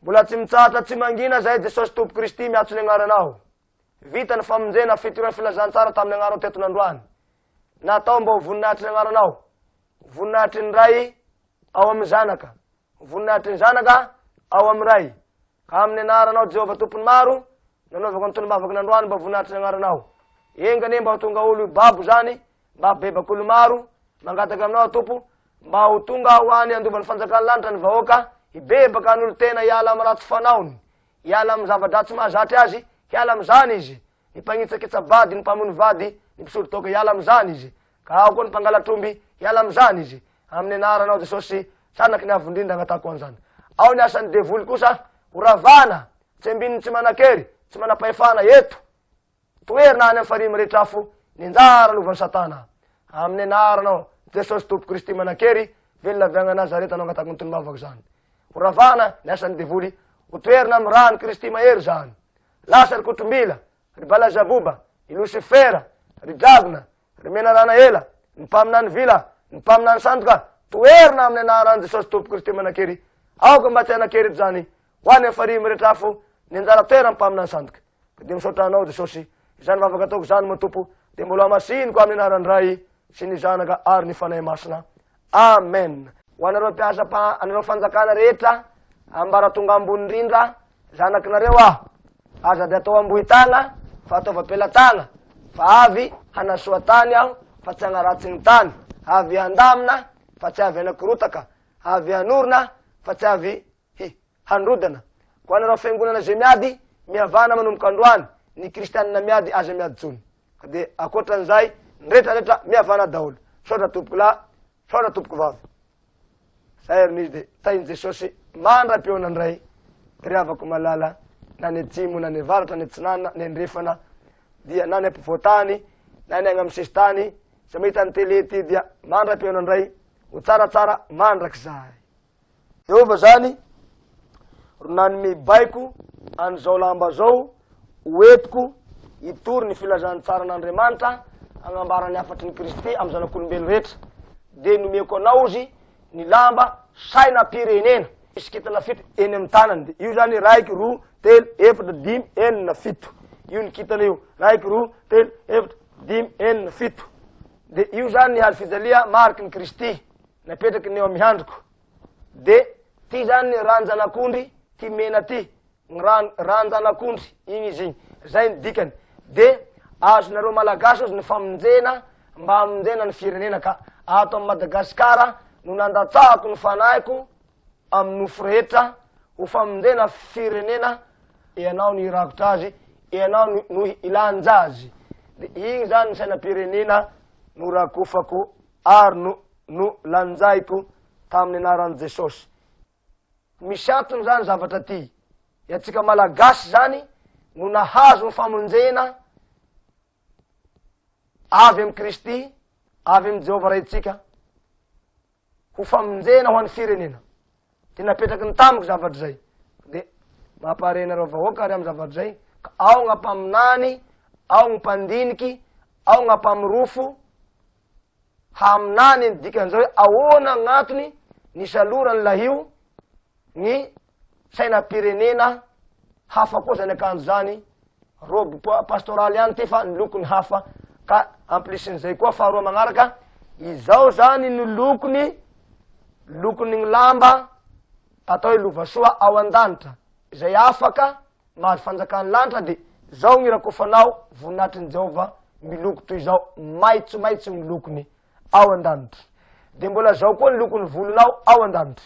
Mbola tsy mitsahatra tsy mangina zahay Jesosy Tompo Kristy miatso ny agnaranao. Vita ny famonjena fitorian'ny filazantsara tamin'ny agnaranao teto nandroany. Natao mba ho voninahitry ny agnaranao. Voninahitry ny Ray ao amin'ny Zanaka. Voninahitry ny Zanaka ao amin'ny Ray. Ka amin'ny anaranao Jehovah Tompon'ny maro, nanaovako ny tolom-bavako nandroany mba voninahitry ny agnaranao. Enga anie mba ho tonga olo babo zany, mba bebak'olo maro mangataka aminao Tompo, Mba ho tonga ho any handova ny fanjakan'ny lanitra ny vahoaka, hibebaka hanolo-tena hiala amin'ny ratsy fanaony, hiala amin'ny zava-dratsy mahazatra azy, hiala amin'izany izy, ny mpanitsakitsa-bady, ny mpamono vady, ny mpisori-daoka hiala amin'izany izy, ka ao koa ny mpangalatr'omby hiala amin'izany izy, amin'ny anaranao Jesosy zanaky ny Avo Indrindra angatahako an'izany. Ao ny asan'ny devoly kosa, horavana, tsembin'ny tsy manan-kery, tsy manam-pahefana eto. Toherina any amin'ny farihy mirehitra afo ny anjara lovan'i Satana. Amin'ny anaranao Jesosy Tompo Kristy manan-kery, velona avy agny Nazareta no angatako ny tolom-bavako zany. Ho ravana ny asan'ny devoly, ho toherina amin'ny ran'i Kristy mahery zany. Lasa ry kotrombila, ry balazaboba, i Losifera, ry dragona, Ry menarana ela, ny mpaminany vila, ny mpaminany sandoka, toherina amin'ny anaran'i Jesosy Tompo Kristy manan-kery. Aoka mba tsy hanan-kery eto izany, ho an'ny hafarian'ny rehetra afo, ny anjara toeran'ny mpaminany sandoka. Ka dia misaotra anao Jesosy, izany vavaka ataoko izany moa Tompo, dia mbola hamasiniko amin'ny anaran'ny Ray sy ny Zanaka ary ny Fanahy Masina. Amen! Ho anareo mpiasa pa anareo fanjakana rehetra ambaratonga ambony indrindra zanakinareo aho aza de atao ambohitana fa ataova pelatana fa avy hanasoa tany aho fa tsy agnaratsy ny tany avy handamina fa tsy avy anakorotaka avy hanorina fa tsy avy hi handrodana ko anareo fiangonana ze miady mihavana manomboka androany ny kristianina miady aza miady tsony ka dia ankoatran'izay ny retraretra mihavana daholo misaotra tompoko lahy misaotra tompoko vavy zay ary nizy dia tahin'i jesosy mandra-peona ndray ry havako malala na ny atsimo na ny avaratra ny atsinanina ny andrefana dia na ny ampovoantany na ny agny amin'ny sesitany zay mahita ny tele ty dia mandra-peona ndray ho tsaratsara mandrakizay eova zany ro nanome baiko an'izao lamba zao hoetiko hitory ny filazantsara an'andriamanitra agnambarany hafatry ny kristy amy zanak'olombelo rehetra de nomeko anao zy ny lamba saina pirenena iskitana fito eny amy tanany de io zany raiky roa telo efatra dimy enina fito io ny kitana io raiky roa telo efatra dimy enina fito de io zany ny haly fijalia mariky ny kristy napetraky ny eo amin'ny handriko de ty zany ny ranjanak'ondry ty mena ty ny ran ranjanak'ondry igny izy igny zay ny dikany de azonareo malagasy ozy ny famonjena mba amonjena ny firenena ka ato am madagasikara no nandatsahako ny fanahiko amy nofo rehetra ho famonjena firenena ianao no irakotra azy ianao no ilanja azy de igny zany ny sainam-pirenena no rakofako Ary no, no lanjaiko tamin'ny anaran'i Jesosy. Misy antony izany zavatra ty. Iantsika Malagasy izany no nahazo ny famonjena avy amin'i Kristy, avy amin'i Jehovah Raintsika, ho famonjena ho an'ny firenena. Dia napetraky ny tamiko zavatra izay. Dia mampare anareo vahoaka ary amin'ny zavatra izay, ka ao gna mpaminany, ao gny mpandiniky, ao gna mpamirofo, haminany ny dikan'izao hoe ahoana gn'antony nisaloran'ny lahio ny sainam-pirenena hafa koa zany akanjo zany robe pastoraly ihany ty fa ny lokony hafa ka amplisin'izay koa faharoa magnaraka izao zany ny lokony lokony ny lamba atao hoe lovasoa ao an-danitra izay afaka Mahazo fanjakan'ny lanitra dia zao gny rakofanao voninahitrin'i Jehovah miloko toy izao, maitsomaitso gny lokony ao an-danitra. Dia mbola zao koa ny lokon'ny volonao ao an-danitra.